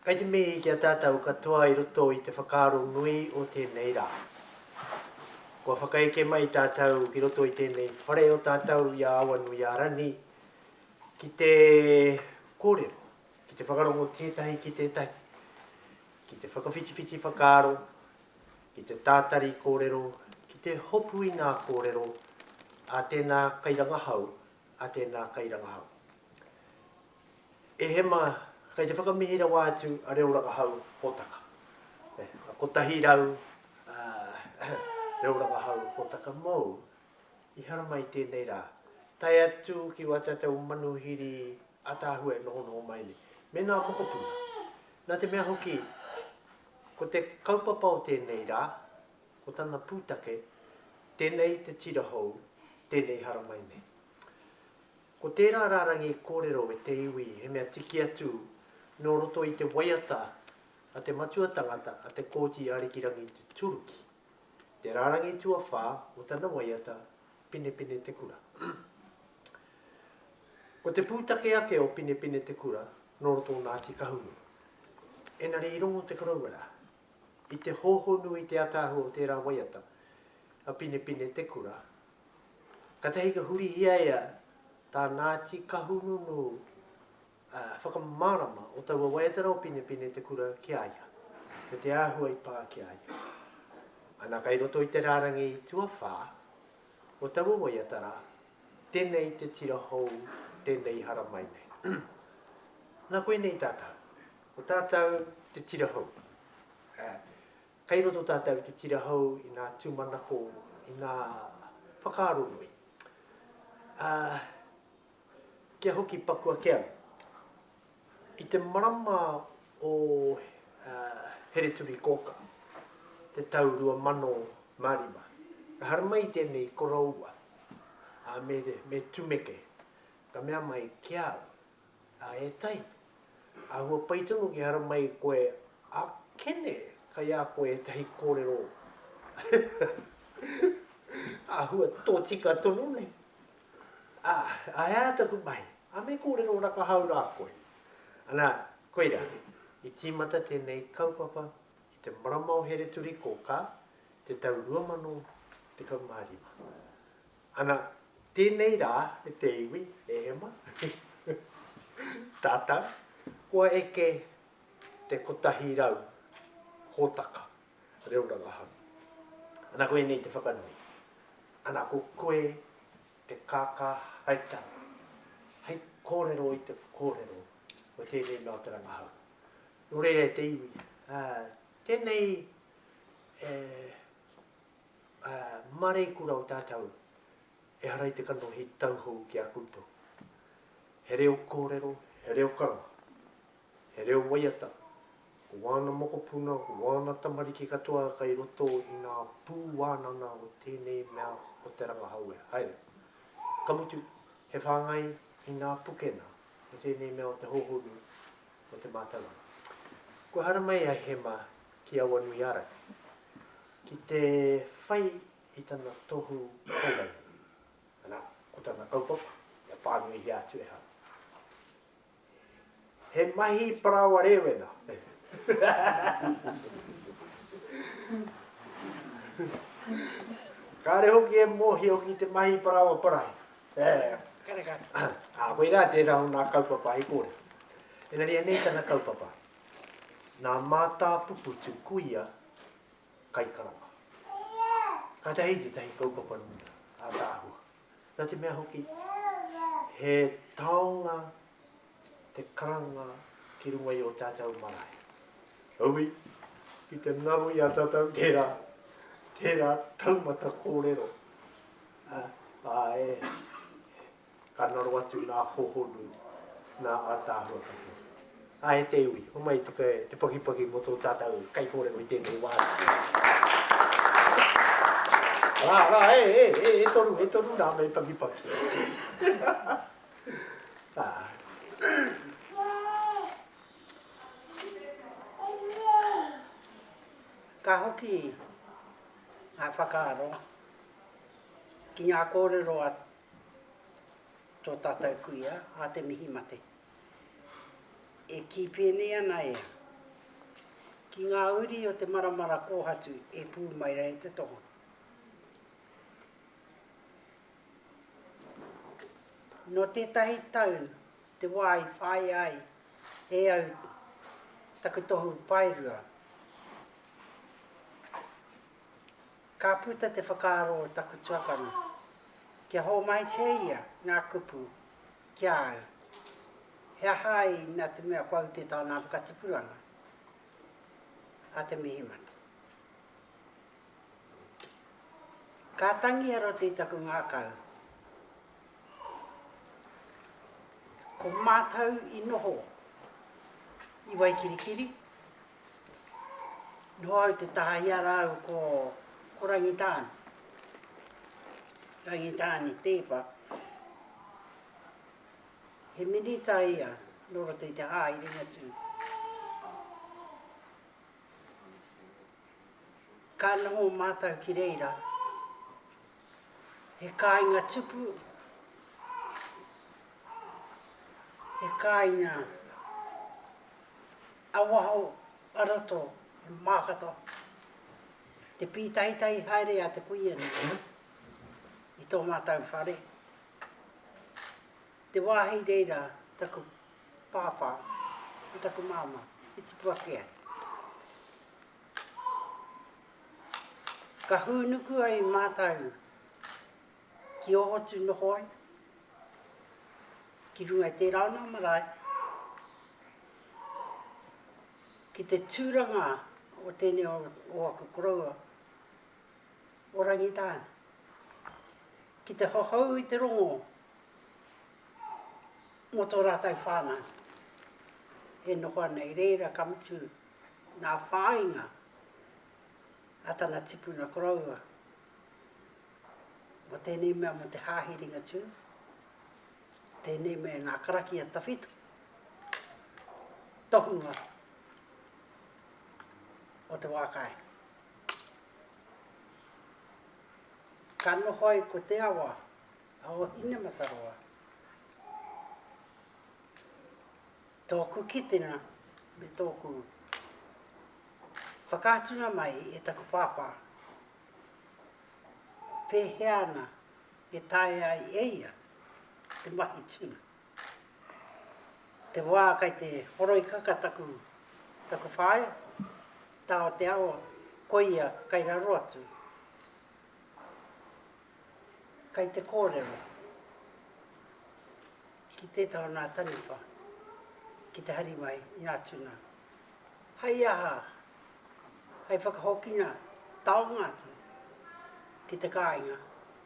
Kei te mihi ki a tātou katoa i roto i te whakaaro nui o tēnei rā. Kua whakaeke mai tātou ki roto i tēnei whare o tātou i a Awanuiārani ki te kōrero, ki te whakarongo tētahi ki tētahi, ki te whakawhitiwhiti whakaaro, ki te tātari kōrero, ki te hopu i ngā kōrero a tēnā kairangahau, a tēnā kairangahau. E hema, kei te whakamihi rawa atu a Reo Rangahau Hōtaka. E, a kotahi rau, ah, Reo Rangahau Hōtaka mōu i haramai i tēnei rā, tae atu ki wā tātou manuhiri ataahua e nohonoho mai nei, me ngā mokopuna. Nā te mea hoki, ko te kaupapa o tēnei rā, ko tana pūtake, tēnei te tira hou, tēnei haramai nei. Ko tērā rārangi kōrero e te iwi he mea tiki atu nō roto i te waiata a te matua tangata a Te Kooti Arikirangi Te Turuki, te rārangi tuawhā o tana waiata Pinepine Te Kura. Ko te pūtake ake o Pinepine Te Kura nō roto o Ngāti Kahungunu. Engari i rongo te koroua rā, i te hōhonu i te ataahua o tērā waiata a Pinepine Te Kura Katahi ka hurihia ia tā Ngāti Kahungunu whakamārama o taua waiatara o Pinepine te kura ki a ia, me te āhua i pā ki a ia. Ana kai roto i te rārangi tuawhā o taua waiatara, tēnei te tira hou, tēnei i haramai nei. Nā koinei tātau, ko tātau te tira hou. Kei roto tātou i te tira hou, i ngā tūmanako, i ngā whakaaro nui. Ā, kia hoki paku ake au. I te marama o Hereturikōkā, te tau 2005, ka haramai tēnei koroua, ā, me tumeke, ka mea mai ki a au, A e Tai, ahua pai tonu ki hara mai koe a Kene, kai a koe etahi korero ahua totika tonu nei. A, a ea taku mahi, a me korero rakahau ra koe. Ana, koira, i timata tenei kaupapa i te marama o Hereturikōkā, te tau 2015. Ana, tēnei rā me te iwi, e Emma, tātou, kua eke te kotahi rau hōtaka reo rangahau. Ana, ko ēnei te whakanui. Ana, ko koe te kākā hai tau, hai kōrero i te kōrero o tēnei mea o te rangahau. Nō reira e te iwi, ā, tēnei e. Mareikura o tātou, ehara i te kanohi tauhou ki a koutou. He reo kōrero, he reo karanga, he reo waiata, ko wāna mokopuna, ko wāna tamariki katoa kai roto i ngā pū wānanga o tēnei mea o te rangahau e. Haere. Ka mutu, he whāngai i ngā pukena o tēnei mea o te hōhonu, Mō te mātanga. Kua haramai a Hema ki Awanuiara ki te whai i tana tohu kōrero. Anā, ko tana kaupapa, kia pānuihia atu e hau. He mahi parāoa rēwena. Kāre hoki e mōhio ki te mahi parāoa parahi. Kareka. Ā, koirā tērā o nā kaupapa hei kōrero. Engari anei tana kaupapa, Nā Mātāpupu te kuia kaikarawa. Kātahi tētahi kaupapa ātaahua. Nā te mea hoki, he taonga te karanga ki runga i o tatou marae. Heoi, ki te ngaro i a tatou tera, tera taumata korero, a, a e, ka ngaro atu nga hohonu, nga atahua katoa. A e te iwi, homai i te, te pakipaki mo to tatou kaikorero i tenei wa. Ara, ara, e, e, e, e toru, e toru na me pakipaki. Ka hoki ngā whakaaro ki ngā kōrero a tō tātou kuia, a Te Mihi Mate. E kī pēnei ana ia, ki ngā uri o te maramara kōhatu e pū mai rā e te tohu. Nō tētahi tau te wā i whāia ai e au taku tohu paerua. Ka puta te whakaaro o taku tuakana kia hōmaitia ia ngā kupu ki a au, he aha ai nā te mea kua ute tānā whakatipuranga a Te Mihimate. Ka tangi a Roti taku ngakau. Ko matou i noho i Waikirikiri. Noho au te taha i a rāu ko Rangitāne. Rangitāne Teepa. He minita ia nō roto i te Hāerenga tū. Ka noho mātou ki reira, he kāinga tupu, he kāinga ā-waho, ā-roto, he mākata, te pītahitahi haere a te kuia nei i tō mātou whare. Te wāhi reira taku Pāpā, me taku Māmā, i tupu ake ai. Ka hūnuku ai mātau ki Ohotu noho ai, ki runga i tērā o nā marae, ki te tūranga o tēnei o, o aku koroua, o Rangitāne. Ki te hohou i te rongo mō tō rātou whānau e noho ana i reira, ka mutu ngā whāinga a tana tipuna koroua mō tēnei mea mō te Hāhi Ringatū, tēnei me ngā karakia tawhito, tohunga o te wā kai. Ka noho ai ko te awa, O Inamataroa. Tōku kitenga me tōku whakaatunga mai e taku pāpā, pēhea ana e taea ai e ia te mahi tuna. Te wā kai te horoikaka taku, taku whaea, tā o te awa, koia kai raro atu. kai te kōrero ki tētā o nā taniwha ki te hari mai i nā tuna. Hai aha, hai whakahokina taonga atu ki te kāinga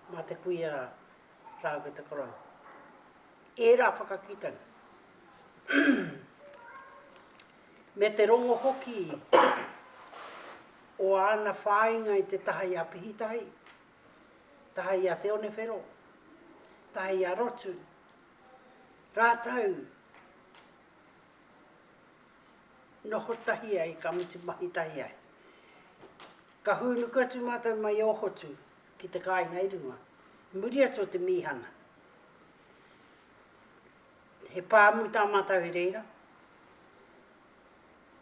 mā te kuia rā, rā ko te korou. Ērā whakakitanga. Me te rongo hoki o āna whāinga i te taha i Apihitahi, tae i a Te Onewhero, tae i a Rotu, rātou noho tahi ai, ka mutu mahi tahi ai. Ka hūnuku atu mātou mai i Ōhotu ki te kāinga i runga, muri atu o te mīhana. He pāmu tā mātou i reira.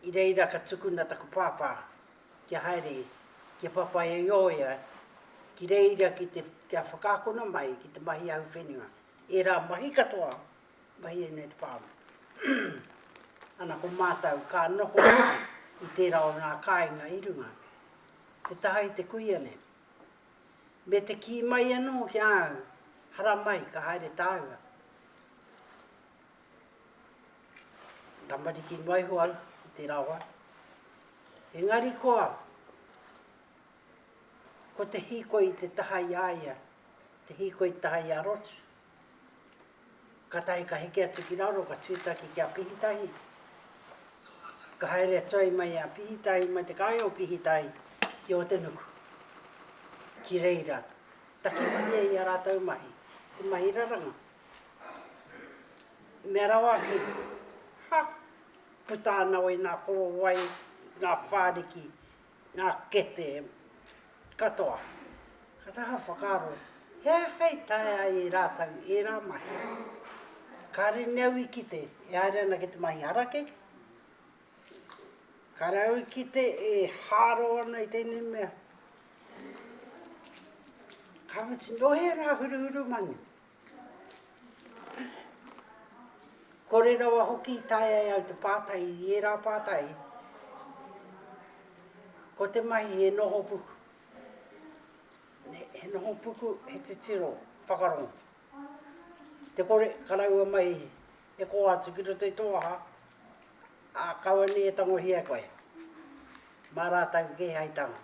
I reira ka tukuna taku pāpā kia haere kia whawhai i ō ia ki reira ki te, kia whakaakona mai ki te mahi ahuwhenua, ērā mahi katoa, mahi ēnei o te pāmu. Ana ko mātou ka noho i tērā o ngā kāinga i runga, te taha i te kuia nei. Me te kī mai anō ki a au, haramai ka haere tāua. Tamariki noa iho au i tērā wā. Engari koa, ko te hīkoi i te taha i a ia, te hīkoi i te taha i a Rotu. Kātahi ka heke atu ki raro, ka tūtaki ki a Pihitahi. Ka haere atu ai mai a Pihitahi, mai te kāinga o Pihitahi ki Ōtenuku. Ki reira, taki mai ai i a rātou mahi, te mahi raranga. Mea rawa ake, Ha! Puta ana wai nā korowai, nā whāriki, nā kete katoa. Ka taha whakaaro, he aha i taea ai e rātou ērā mahi? Kāre nei au i kite e haere ana ki te mahi harakeke. Kāre au i kite e hāro ana i tēnei mea. Ka mutu, nō hea rā huruhuru manu? Kore rawa hoki i taea e au te pātai i ērā pātai, ko te mahi he noho puku, he noho puku, he titiro whakarongo. Te kore karaua mai e kō atu ki roto i tō aha, ā, kaua nei e tangohia koe, mā rātou kē hai tāngata.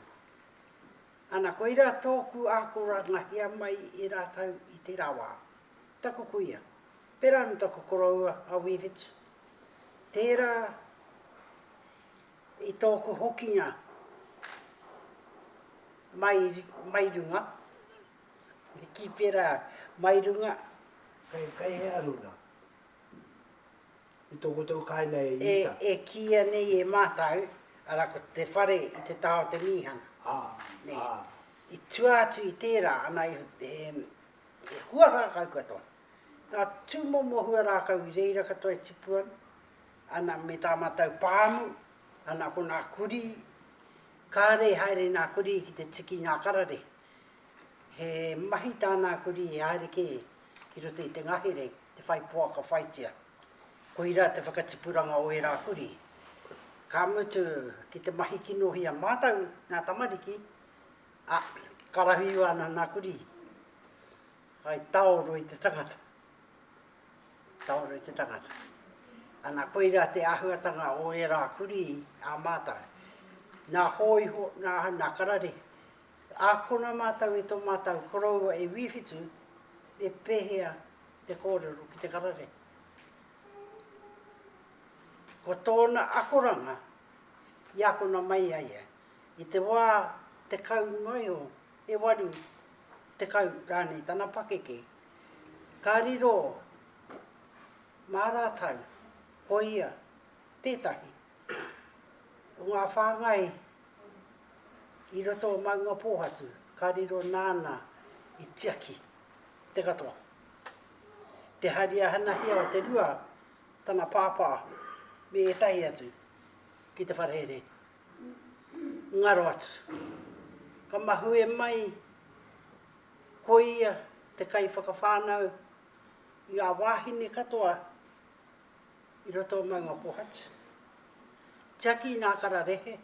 Ana, koirā tōku ākorangahia mai i rātou i tērā wā. Taku kuia, pērā anō taku koroua a Wī Whitu, tērā i tōku hokinga mai, mai runga, ki pērā mai runga. Kei, kei hea runga? I tō koutou kāinga e Iuta. E kīia nei e mātou, arā, ko te whare i te taha o te mīhana. Ā, ā. I tua atu i tērā, ana, he, he hua rākau katoa. Ngā tūmomo hua rākau i reira katoa e tipu ana, ana, me tā mātou pāmu, ana, ko ngā kurī, kāre e haere nā kurī ki te tiki i ngā kararehe. He mahi tāna a kurī e haere kē ki roto i te ngahere te whai poaka whaitia. Koirā te whakatipuranga o ērā kurī. Ka mutu, ki te mahi kinohia mātou, ngā tamariki, ā, karawhiua ana nā kurī. Hai taoro i te tangata. Taoro i te tangata. Ana, koirā te āhuatanga o ērā kurī ā mātou. Nā hōiho, nā, nā karare, Ākona mātou i tō mātou koroua e Wīwhitu, me pēhea te kōrero ki te karare. Ko tōna akoranga i akona mai ai ia, i te wā tekau noa iho, e waru tekau rānei tana pakeke, ka riro mā rātou ko ia tētahi o ngā whāngai i roto o Maungapōhatu, ka riro nāna i tiaki te katoa. Te hari ahanahia o te rua, tana pāpā me ētahi atu ki te wharehere, ngaro atu. Ka mahue mai ko ia te kaiwhakawhānau i ngā wāhine katoa I roto o maunga kohatu. Tiaki nā kararehe.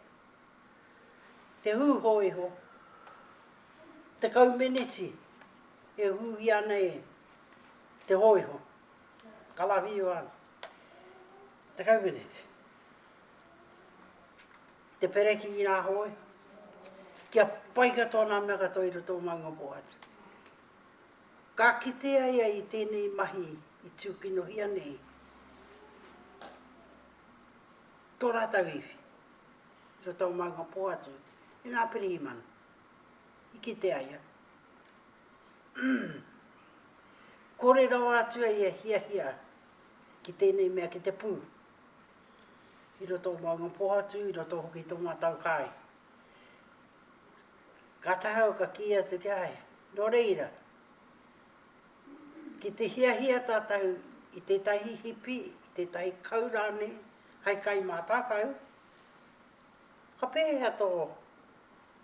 Te hū hōiho. Tekau meneti e hūhia nei te hōiho. Karawhiua ana. Tekau meneti. Te pereki i nā hōiho. Kia pai katoa nā mea katoa i roto o maunga kohatu. Ka kitea ia i tēnei mahi i tūkinohia nei tō rātou iwi i roto o maunga pō atu i ngā pirihimana i kite ai a kore rawa atu ai e hiahia ki tēnei mea ki te pū i roto o maunga pō atu i roto hoki tō mātou kāi ka tahau ka kī atu ki ai nō reira Ki te hiahia tātou i tētahi hipi, i tētahi kau rānei hai kai mā tātou, ka pēhea tō,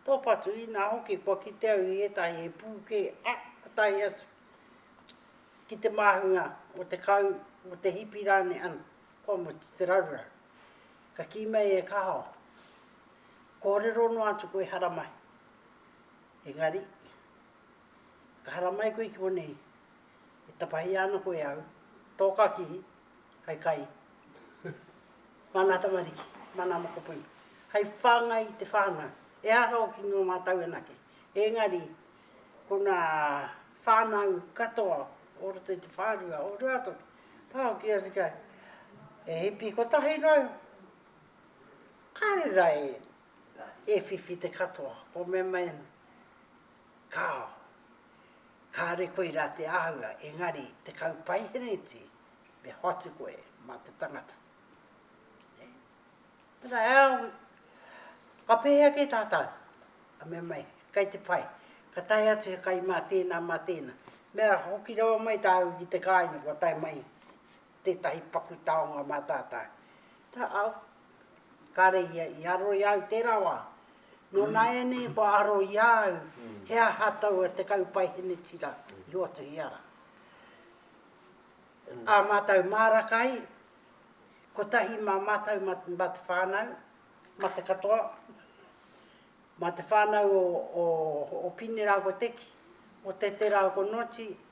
tō patu inā hoki kua kite au i ētahi he pū kē, a, ka tae atu ki te māhunga o te kau, o te hipi rānei ana, kua mutu te raruraru. Ka kī mai e Kaho, Kōrero noa atu koe haramai. Engari. Ka haramai koe ki konei, e tapahia ana koe e au, tō kakī, hai kai, māna tamariki, māna mokopuna, hai whāngai i te whānau, ehara hoki nō mātou anake, engari ko ngā whānau katoa o roto i te whārua o Ruatoki, tā hoki atu kai, e hipi kotahi noa iho, kāre rā e whiwhi te katoa, kōmemai ana. Kāo. Kāore koe rā te āhua, engari te kaupaihereti me hoatu koe mā te tangata. Nē? Tērā, e au, ka pēhea kē tātou? Ka mea mai, kei te pai. Ka tae atu he kai mā tēnā, mā tēnā. Mea hoki rawa mai tāu ki te kāinga kua tae mai tētahi paku taonga mā tātou. Ka au, kāre ia i aro i a au tērā wā. Nō nāianei kua aro i a au he aha taua te kaupaihenetira i Hotuhiara. Ā mātou māra kai, kotahi mā mātou mā te whānau, mā te katoa, mā te whānau o Pine rāua ko Teki, o Tete rāua ko Noti,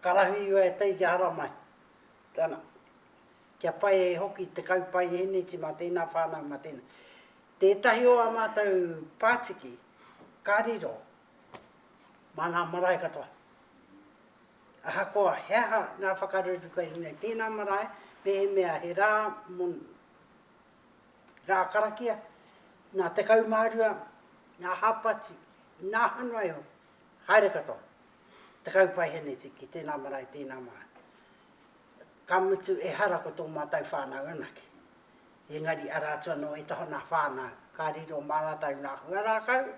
Karahui iwa e tei kia haramai. Tana. Kia pai e hoki te kaupaiheneti ma tena whanau ma tena. Tetahi o a matou patiki ka riro ma nga marae katoa. Ahakoa he aha nga whakareruku kei runga i tena marae, mehemea he ra mo ra karakia, na 12 nga hapati, na hano ai hoki. Haere katoa. Tekau paiheneti ki tēnā marae, tēnā marae. Ka mutu ehara ko tō mātou whānau anake. Engari arā atu anō ētahi o nā whānau ka riro mā rātou nā hua rākau,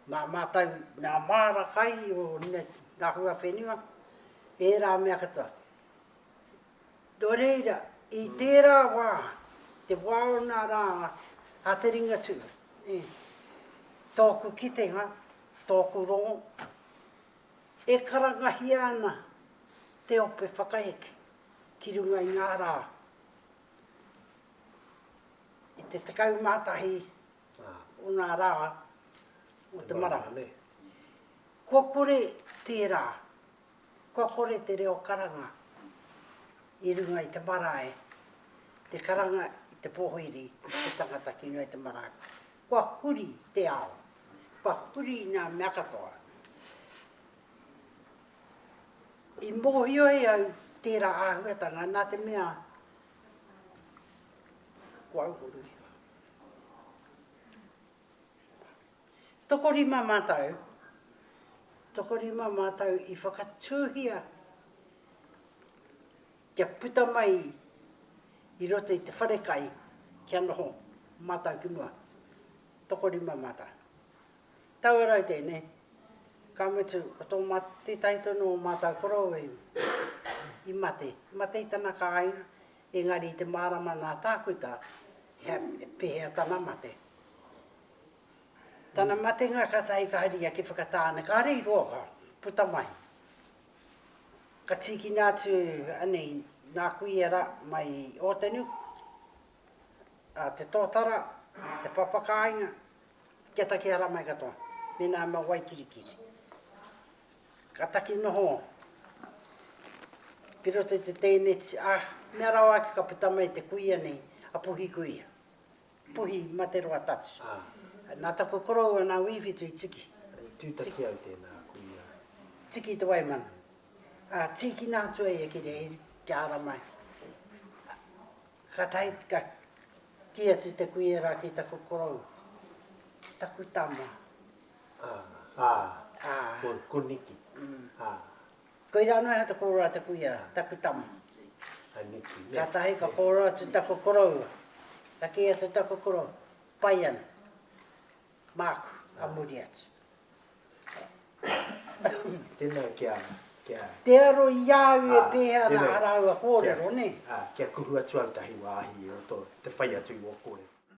mā mātou nā māra kai o nā hua whenua, ērā mea katoa. Nō reira, i tērā wā, te wā o nā rā a te Ringatū, ē, tōku kitenga, tōku rongo, e karangahia ana te ope whakaeke ki runga i ngā rā, i te 11 o nā rā o te marama, kua kore tērā Kua kore te reo karanga i runga i te marae, te karanga i te pohoiri i te tangata ki runga i te marae. Kua huri te ao, kua huri nga mea katoa. I mohio ai au tera ahuatanga na te mea ko au ko Ruahio. Tokorima mātou, tokorima mātou i whakatūhia kia puta mai i roto i te wharekai kia noho mātou ki mua. Tokorima mātou. Taua rau tēnei, ka mutu ko tō mā, tētahi tonu o mātou koroua i, i mate. Mate i tana kāinga, engari i te mārama nā Tākuta, he, pēhea tana mate. Tana matenga ka tae ka haria ki Whakatāne, kāre i roa ka puta mai. Ka tīkina atu anei nā kuia rā mai Ōtenu, a Te Tōtara, Te Papakāinga, kia takea rā mai katoa, mēnā me Waikirikiri. Ka taki noho ki roto i te tēneti, ā, mea rawa ake ka puta mai te kuia nei, a Puhikuia. Puhi ma te roa tatu. Na taku koroua na Wiwhitu i tiki. I tutaki au tena kuia. Tiki te waimana. A tikina atu ai e Kirihiri kia ara mai. Ka tahi ka ki atu te kuia ra ki taku koroua. Taku tama. A. Ko Niki. A. Koirā noa iho te kōrero a te kuia, taku tama. Kātahi ka kōrero atu taku koroua, ka kī atu taku koroua, pai ana, māku, a muri atu. Tēnā kia, kia. Te aro i a au e pēhea ana ā rāua kōrero, nē? Ā, kia kuhu atu au tahi wāhi i roto, te whai atu i wō kōrero.